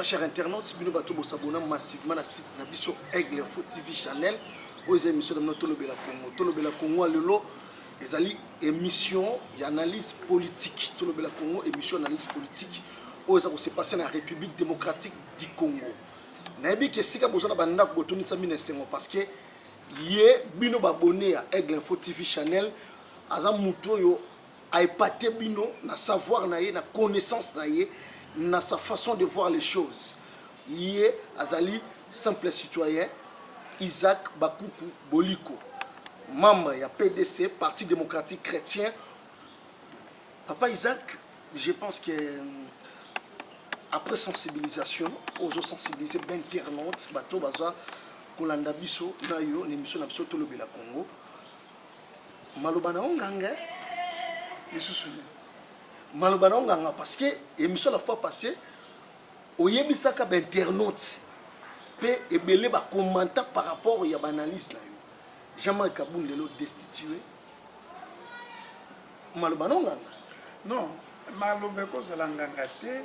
Très cher internaute, bino bato bo s'abonner massivement na site na biso Aigle Foot TV Channel. Oyo eza émission na bino Tolobela Congo. Tolobela Congo ya lelo ezali émission ya analyse politique. Tolobela Congo émission analyse politique oyo eza ko se passer na République démocratique du Congo. Nayebi ke sika boza na bandako botondisa mine esengo parce que ye bino babone ya Aigle Info TV Channel aza moto oyo A epater bino na savoir na ye, na connaissance na ye, na sa façon de voir les choses. Ye azali simple citoyen Isaac Bakuku Boliko, membre ya PDC, Parti democratique chretien. Papa Isaac, je pense que après sensibilisation ozo sensibiliser d'internaute bato baza kolanda biso na yo na emission na biso tolobela Congo maloba na yo nganga lisusu nini maloba na yo nganga parce que émission la fois passée oyebisaka bainternaute mpe ebele bacommenta par rapport ya baanalyse na yo jean-marc kabund lelo destitue maloba no nganga non maloba ekozala nganga te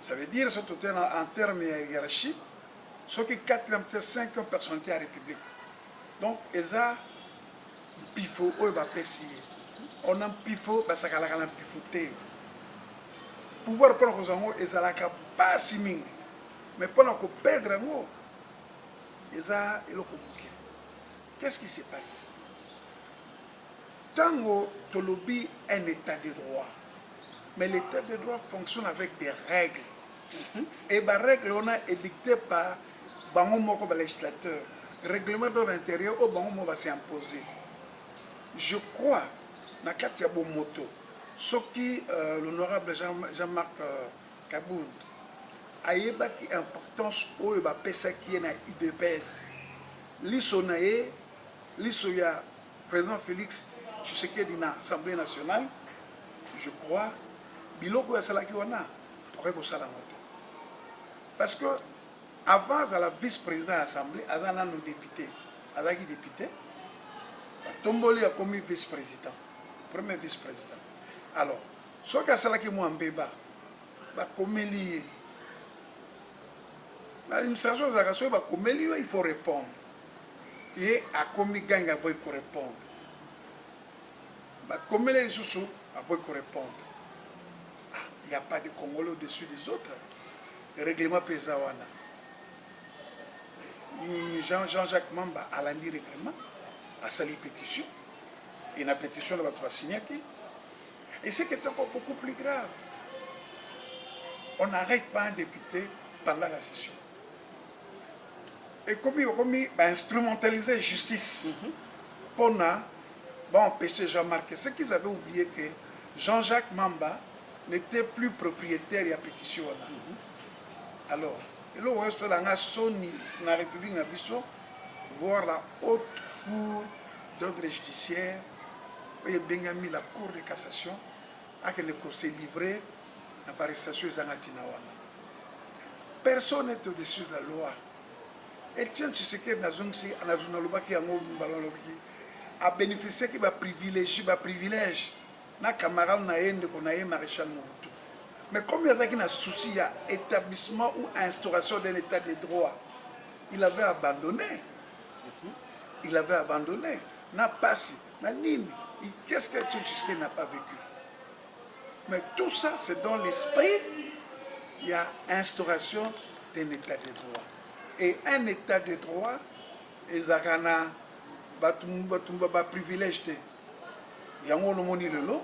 Ça veut dire soki tote na en terme ya hiérarchie soki quatrième te cinquième personnalité ya république donc eza mpifo oyo bapesi ye ona mpifo basakalaka na mpifo te pouvoir mpona kozwa yango ezalaka mpasi mingi mais mpona koperdre yango eza eloko moke qu'est ce qui se passe Tango tolobi un etat de droit mais l'etat de droit fonctionne avec des règles et ba règles wana edicter par bango moko ba legislateurs, règlement d'ordre interieur oyo bango moko ba se imposer. Je crois na kati ya bomoto soki l'honorable Jean Marc Kabund ayebaki importance oyo bapesaki ye na udps, liso na ye, liso ya President Felix Tshisekedi na Assemblee nationale, je crois biloko oyo asalaki wana akoki kosala yango te parce que avant azala vice president ya Assemblee aza nano depute, azalaki depute batomboli akomi vice president, premier vice president. Alors soki asalaki mwa mbeba bakomeli ye na administration ezalaka soki bakomeli yo il faut répondre Ye akomi gangi aboyi ko repondre bakomeli ye lisusu aboyi ko repondre ah il ya pas de congolais au dessus des autres reglement pe eza wana Jean Jean Jacques Mamba alandi reglement asali petition et na petition na bato ba signaki et ce qui est encore beaucoup plus grave on n'arrête pas un député pendant la session ekomi okomi ba instrumentaliser justice mm -hmm. pona ba empêcher Jean Marc ce qu'ils avaient oublié que Jean-Jacques Mamba n'était plus propriétaire ya petition wana mm -hmm. alors eloko oyo esala nga soni na république na biso voir la haute cour d'ordre judiciaire oyo ebengami la cour de cassation akende ko se livrer na ba arrestation ezanga tina wana personne est au-dessus de la loi Etienne Tshisekedi nazongisi nazo nalobaki yango mbala nalobaki a bénéficiaki ba privilégie ba privilège na camarade na ye ndeko na ye maréchal Mobutu mais comme il azalaki na souci ya établissement ou instauration d'un état de droit il avait abandonné il avait abandonné na pasi na nini qu'est-ce que Etienne Tshisekedi n'a pas vécu Mais tout ça c'est dans l'esprit ya instauration d'un etat de droit et un etat de droit ezalaka na batu batu ba privilège te yango olomoni lelo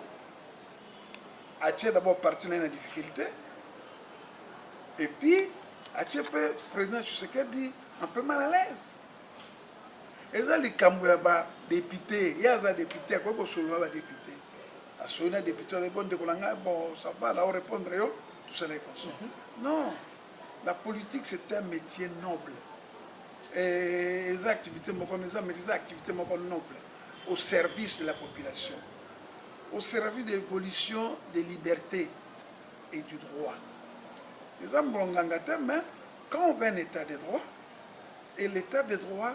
atie d'abord parti na ye na difficulté et puis atie mpe président Tshisekedi un peu mal à l'aise eza likambo ya badepute ye aza depute akoki kosolola badepute asoyi na depute wana bo ndeko na ngai bon ça va na o répondre yo tout ça les consort mm -hmm. non la politique c'est un métier noble et eza activité moko eza mais eza activité moko noble au service de la population au service de l'évolution des libertés et du droit eza mbonganga te mais quand on veut un état de droit et l'état de droit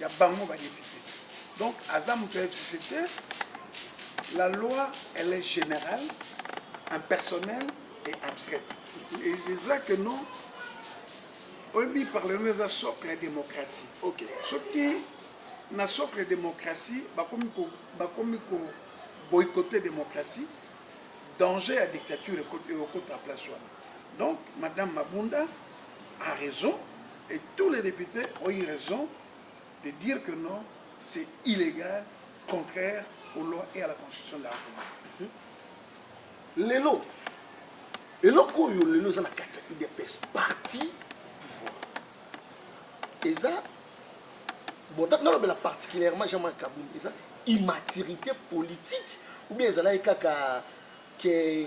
ya bango ba depute donc aza moto ya fcc te la loi elle est générale impersonnelle et abstraite et eza que non oyebi parlement eza socle ya démocratie okay. soki na socle ya démocratie bakomi ko, bakomi ko boycotter démocratie danger ya dictature ekota place wana donc madame mabunda a raison Et tous les deputes ont eu raison de dire que non, c'est illégal, contraire aux lois et à la constitution de la République. Lelo, eloko oyo lelo eza na kati ya idps parti pouvoir eza nalobela particulièrement jean marc kabund eza immaturité politique ou bien ezalaki kaka ke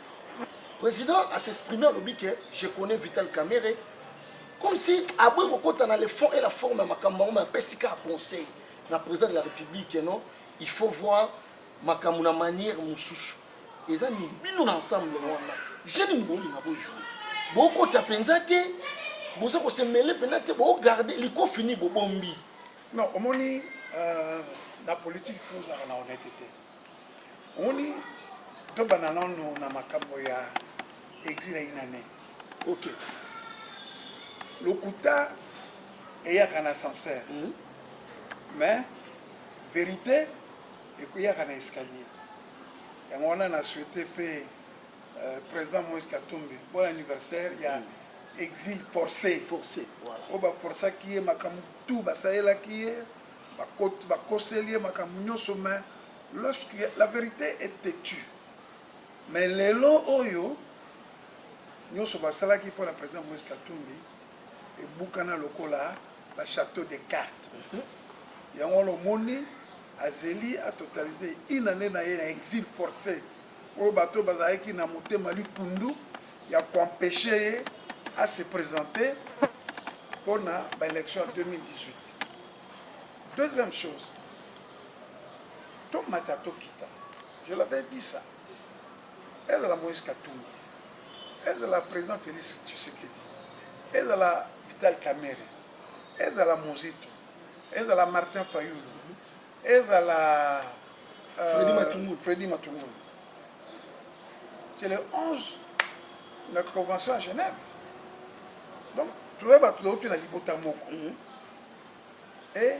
President a s'exprimer alobi que je connais Vital Kamerhe comme si aboyi kokota na le fond et la forme ya makambo yango ma apesi kaka conseil na président de la république non il faut voir makambo na manière mosusu eza nini bino na ensemble wana je nini bolinga bojoue bokota mpenza te boza kosemele mpenza te bogarde likofini bobombi non omoni euh, na politique fozala na honnêteté Omoni tobanda nano na makambo ya exil ya inane ok lokuta eyaka na ascenseur mm. mais verite ekoyaka na escalier yango wana na souhaite mpe euh, président moïse katumbi bon anniversaire ya mm. exil forcé forcé voilà. oyo baforsaki ye makambo tout basalelaki ye Ba koseli ye makambo nioso mais lorsque la verite est tetue mais lelo oyo nioso ba salaki pona president Moise Katumbi ebukana lokola ba chateau de carte yango wana omoni azeli a totaliser une annee na ye na exil force oyo batu oyo bazalaki na motema likundu ya ko empecher ye a se presenter pona ba elections ya 2018. Deuxième chose, tomata tokita, je l'avais dit ça, ezala Moïse Katumbi, ezala président Félix Tshisekedi, ezala Vital Kamerhe, ezala Muzito, ezala Martin Fayulu, Ezala Freddy Matungulu, Freddy Matungulu. C'est le 11 na convention à Genève. Donc toye bato touti na libota moko. Mhm. Et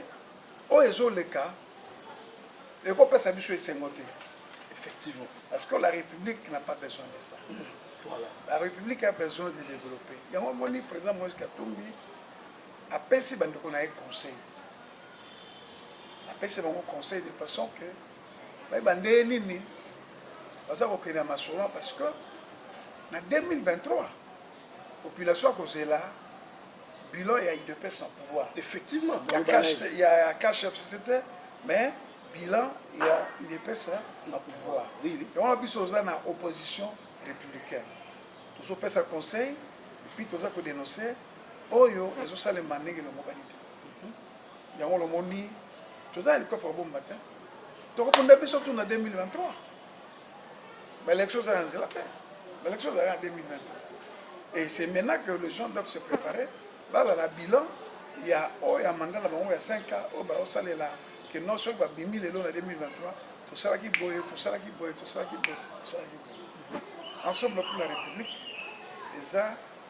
oyo ezoleka ekopesa biso esengo te. Effectivement. Parce que la République n'a pas besoin de ça. Mhm. Voilà. La République a besoin de développer. Yango moni président Moïse Katumbi apesi bandeko na ye conseil. napesi bango conseil de façon que bayeba ndenge nini baza kokende ya masolo parce que na 2023 population akozela bilan ya udps na pouvoir effectivement ya cash fcct mais bilan ya udps na pouvoir yango na biso oza na opposition républicaine tozopesa conseil epuis toza kodenonce oyo ezosalema ndenge elongobani te yango lomoni toza na likofa bomu matin tokopunda biso tuna 2023 baélection eza na nzela te baélection ezali na 2023 et c'est maintenant que les gens doivent se préparer balala bilan ya oyo ya manda na bango ya 5 ans oyo baosalela ke non soki babimi lelo na 2023 tosalaki boye tosalaki boye tosalaki boye tosalaki boye ensemble pour la république eza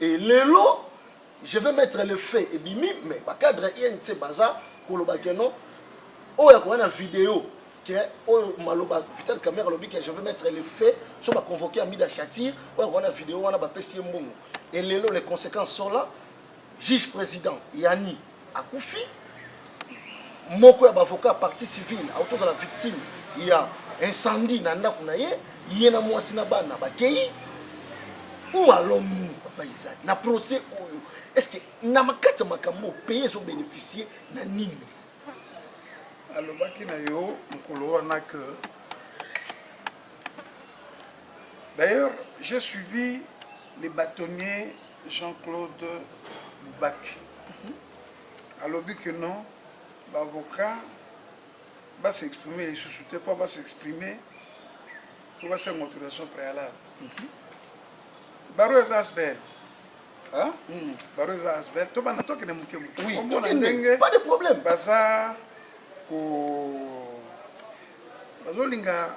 Et lelo je vais mettre le feu ebimi mais ba cadre INC baza koloba que non oyo akoya na video que oyo maloba Vital Kamerhe alobi que je vais mettre le feu so ba convoquer Amida Shatir oyo akoya na video wana bapesi ye mbongo et lelo les conséquences sont là juge président Yanni akufi moko ya bavoka ya parti civile auti ozala victime ya incendie na ndako na ye ye na mwasi na bana bakei ou alonu papa izali na procès oyo est ce que na makati ya makambo oyo pays ezobénéficie na nini alobaki na yo mokolo wana que d'ailleurs j'ai suivi les bâtonniers Jean Claude Mubake alobi que non ba avocats ba s'exprimer lisusu te mpo ba s'exprimer mpo basenga autorisation préalable baro eza asbel baro eza asbel to banda tokende moke moke omona ndenge baza ko bazolinga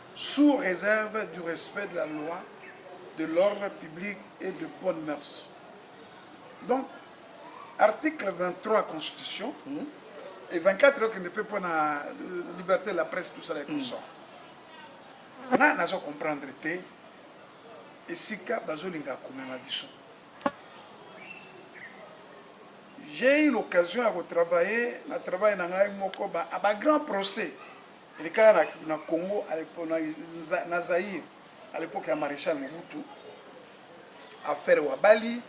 sous reserve du respect de la loi, de l'ordre public et de bonnes mœurs. Donc, article 23 ya constitution mm -hmm. et 24 okende mpe mpo na euh, liberté de la presse tout ça la consort mm. nga nazo comprendre te esika bazolinga komema biso j'ai eu l'occasion ya kotravaille na travaille na ngai moko ba, ba grand procès Elekaka na, na Congo, na, na Zaire, à l'époque ya Marechal Mobutu, affaire Wabali,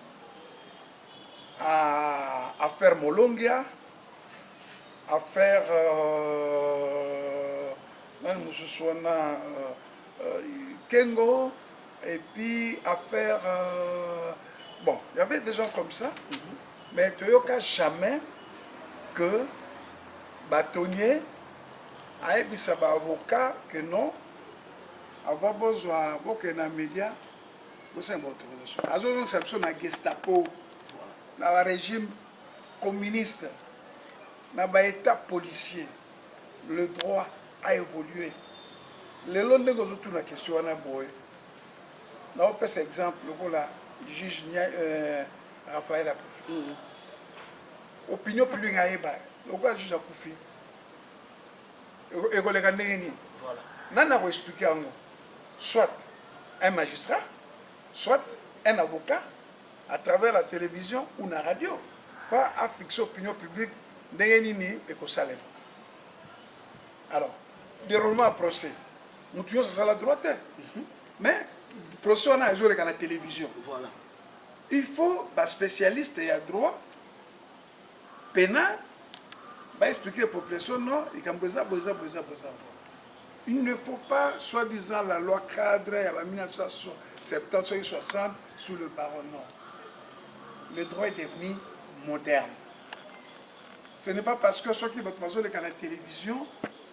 à, affaire Molongia, affaire euh, nani mosusu wana euh, euh, Kengo, et puis affaire euh, bon, il y avait des gens comme ça, mm -hmm. mais toyoka jamais que bâtonnier Ayebisa ba avocats que non avant bozwa bokende na media bosenga ba autorisation. Azo zongisa biso na gestapo na ba regime communiste na ba etat policier le droit a evoluer lelo ndenge ozo tuna question wana boye na opesa exemple lokola juge euh, Raphaël akufi mm. opinion publique ayeba lokola juge akufi ekoleka ndenge nini voilà nani ako expliquer yango soit un magistrat soit un avocat à travers la télévision ou na radio pas à fixer opinion publique ndenge nini ekosalema alors déroulement ya procès mutu nyonso asala droit te mhm. mais procès wana ezoleka na télévision voilà il faut ba spécialiste ya droit penal ba expliquer population non likambo eza boye eza boye eza boye eza boye il ne faut pas soit disant la loi cadre ya ba 1970 soki 60 sous le baron non le droit est devenu moderne ce n'est pas parce que soki bato bazoleka na télévision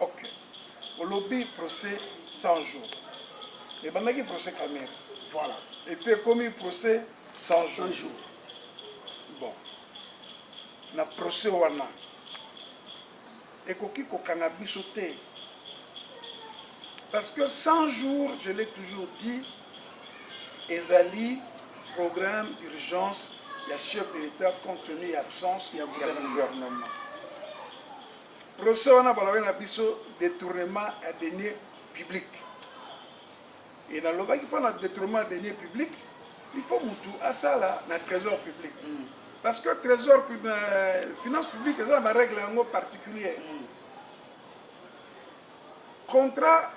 Ok olobi procès 100 jours ebandaki procès kamere voilà et puis ekomi procès 100 jours, jours. bon na procès wana ekoki kokanga biso te parce que 100 jours je l'ai toujours dit ezali programme d'urgence ya chef de l'état compte tenu ya absence ya gouvernement Procès wana balobaki na biso detournement ya deniers publics et nalobaki mpo na detournement ya deniers publics il faut mutu asala na trésor public mm. parce que trésor euh, finance publique eza na barègle yango particulier mm. contrat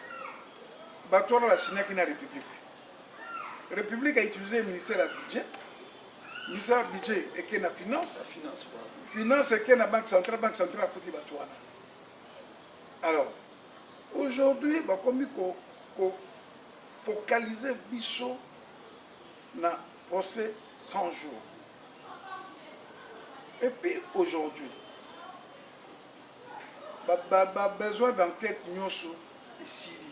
bato wana basignaki na république république a utilisé ministère ya budget Misa budget eke na finance, finance eke na banque centrale, banque centrale afuti bato wana. Alors aujourd'hui bakomi ko, ko focaliser biso na procès 100 jours. Et puis aujourd'hui ba, ba, ba besoin d'enquête nyonso esili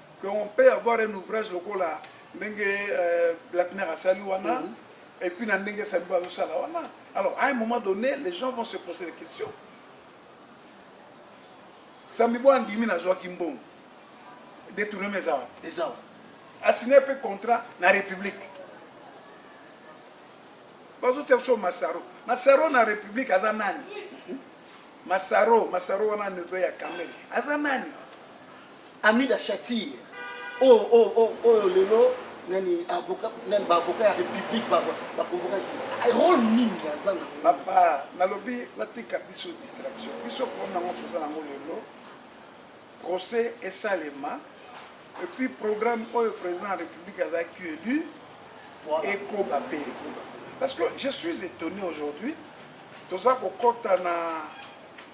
que on peut avoir un ouvrage lokola ndenge euh, Blackner asali wana mm -hmm. et puis na ndenge Saliba azosala wana alors à un moment donné les gens vont se poser des questions Samibo andimi nazwaki mbongo détournement eza wana eza wana asigne mpe contrat na république bazotia biso masaro masaro na république aza nani masaro masaro wana neveu ya kamel aza nani Amida Shatir oh oh oh oyo lelo nani avocat nani ba avocat ya république ba ba convoquer rôle nini aza na papa nalobi batika biso distraction biso problème nango toza nango lelo procès esalema et puis programme oyo président ya république azalaki élu ekoba mpe ekoba parce que je suis étonné aujourd'hui toza kokɔta na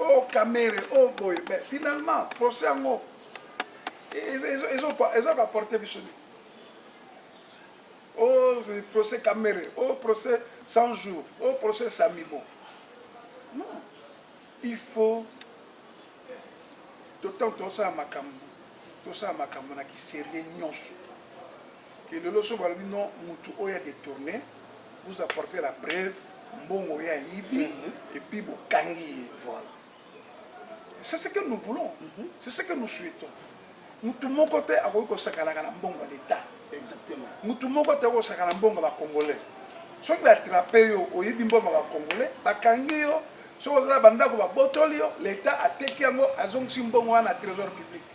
Oh kamere oh boye mais finalement procès yango ezo ko apporter biso nini oh procès kamere oh procès 100 jours oh procès samibo non il faut totango tosala makambo tosala makambo na kiserieux nyonso Kelelo soki balobi no mutu oyo a detourne vous apportez la preuve mbongo ye ayibi et puis bokangi ye voilà c'est ce que nous voulons c'est ce que nous souhaitons mutu moko te akoki kosakanaka na mbongo ya l'etat exactement mutu moko te akosaka na mbongo ya ba congolais soki ba attrape yo oyibi mbongo ya ba congolais bakangi yo soki ozala bandako babotoli yo l'etat ateki yango azongisi mbongo wana na trésor public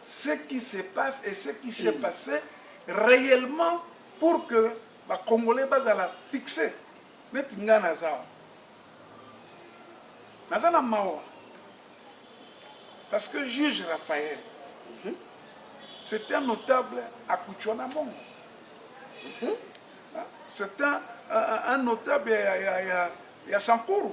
ce qui se passe et ce qui s'est passe reellement pour que ba congolais bazala fixe neti nga naza awa naza na mawa parce que juge raphael mhm. c'est un notable akuchwa na mongo mhm. c'est un, un, un notable ya, ya, ya, ya sankuru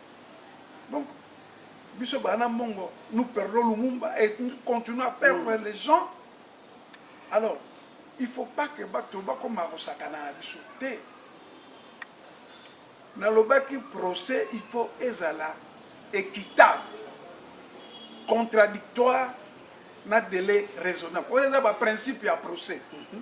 donc biso bana mongo nous perdons lumumba et nous continuons à perdre mm. les gens alors il faut pas que bato bakoma kosakana na biso te nalobaki procès il faut ezala équitable contradictoire na délai raisonnable oyo eza baprincipe ya procès mm -hmm.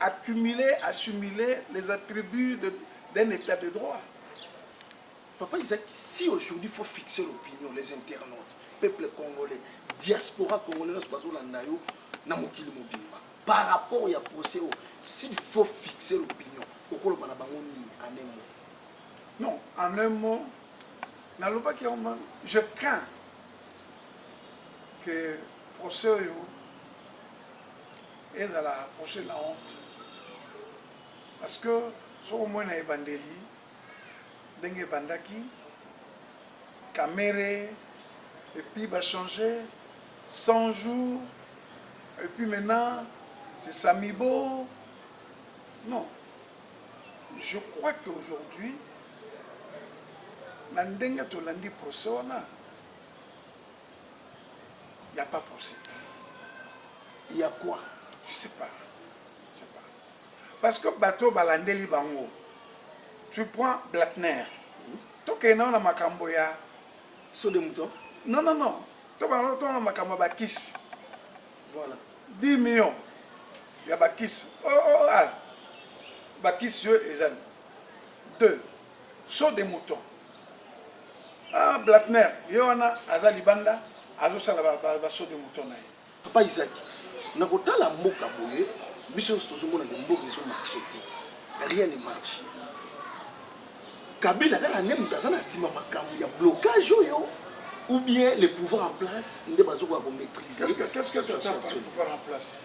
accumuler, assimiler les attributs d'un état de droit. Papa Isaac, si aujourd'hui il faut fixer l'opinion, les internautes, peuple congolais, diaspora congolais, nous sommes là, na mokili mobimba par rapport ya procès oyo s'il faut fixer l'opinion okoloba na bango nini en un mot non en un mot nalobaki yango mama je crains que procès oyo Ezala proche la honte parce que soki omoni na ebandeli ndenge ebandaki kamere et puis ba change 100 jours et puis maintenant c'est samibo non je crois que aujourd'hui na ndenge tolandi procès wana Il n'y a pas procès. Il y a quoi Je sais pas. Je sais pas. Parce que bateau balandeli bango. Tu prends Blatner. Tokende na makambo ya saut de mouton. Non non non. Tokende na makambo ya bakisi. Voilà. 10 millions ya bakisi. Oh oh ah. Bakisi yo ezali. 2 Saut de mouton ah blatner ye wana aza libanda azo sala ba, ba, ba saut de mouton na ye. Papa Isaac, na kotala mboka boye, biso nyonso tozomona ke mboka ezo marche te, rien ne marche. Kabila kaka nde moto aza na nsima makambo ya blocage oyo ou bien le pouvoir en place nde bazokoka ko maitriser situation actuelle?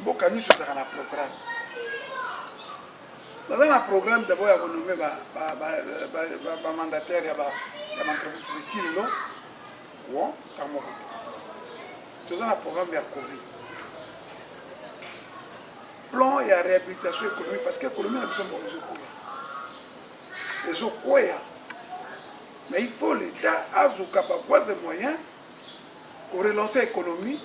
Mboka nionso ezalaka na programme. Baza na programme d'abord ya ko nommer ba ba ba ba, ba, ba mandataires ya ba ya entreprise publique kilo. Wa kamo ko. Toza na programme ya Covid. Plan ya réhabilitation économique parce que économie na biso mbongo ezokoya. Ezokoya. Mais il faut l'État azoka ba voies et moyens ko relancer economie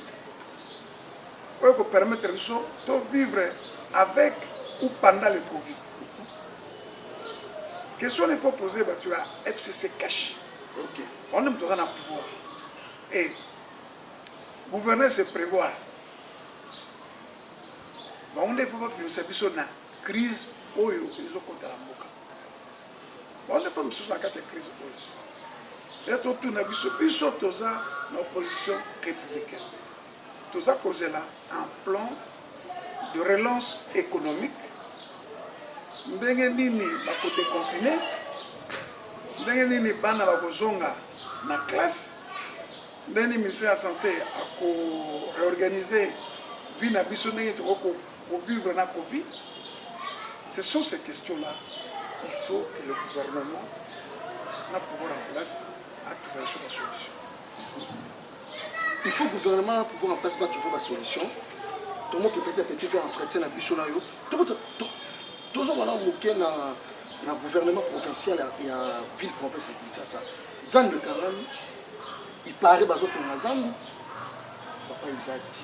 oyo eko permettre biso to vivre avec ou pendant le Covid. Question il faut poser batu ya FCC cash. Ok. On aime toza na pouvoir. Et gouverner c'est prévoir. Bango nde il faut babimisa biso na crise oyo ezokota na mboka. Wana mpe mosusu na kati ya crise oyo ya totuna biso biso toza na opposition républicaine toza kozela un plan de relance économique ndenge nini bakodeconfine ndenge nini bana bakozonga na classe ndenge nini ministère ya santé ako réorganiser vie na biso ndenge tokoki Ko vivre na covid ce sont ces questions là il faut que le gouvernement na pouvoir en place a trouver sur la solution il faut gouvernement na pouvoir en place ba trouver ba solution tomo ke petit à petit faire entretien na biso na yo toko tozo wana moke na na gouvernement provincial ya ville province ya Kinshasa zandu quand même il paraît bazotonga zandu papa izaki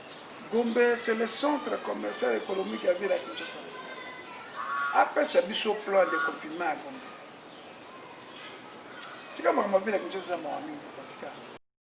Gombe c'est le centre commercial économique ya ville ya Kinshasa. Apesa biso plan de confinement ya Gombe. Tika makambo ya ville ya Kinshasa mawa mingi.